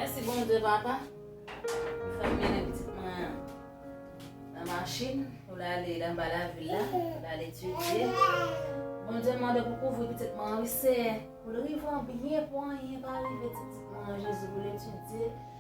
Mèsi Bondye papa ou fèm mennen pitit mwen an nan machin pou l ale l anba lavil la pou l al etidye Bondye m mande pou kouvri pitit mwen an wi Seyè pou l rive an byen pou anyen pa rive pitit mwen an Jezi pou l etidye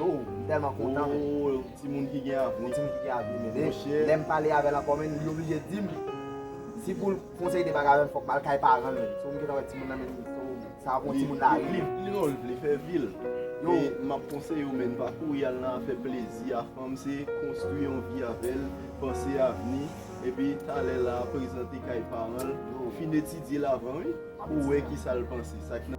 Ooh m telman kontan men. Ooh yon ti moun ki gen avni. Yon ti moun ki gen avni men. Monchè. Lèm pale avèl ankò menn li oblije dim si poul konseye de bagay avèm fòk mal kay paranl menn. So m gentan wè ti moun nan menn ooh sa ap yon ti moun lari. Li non li vle fè vil. Yo map konseyew menn pa kouri al nan afè plezi a fanm se konstwi yon vi avèl panse avni epi talè la prezante kay paranl yo fin etidyel avan wi pou wè kisal panse sak nan.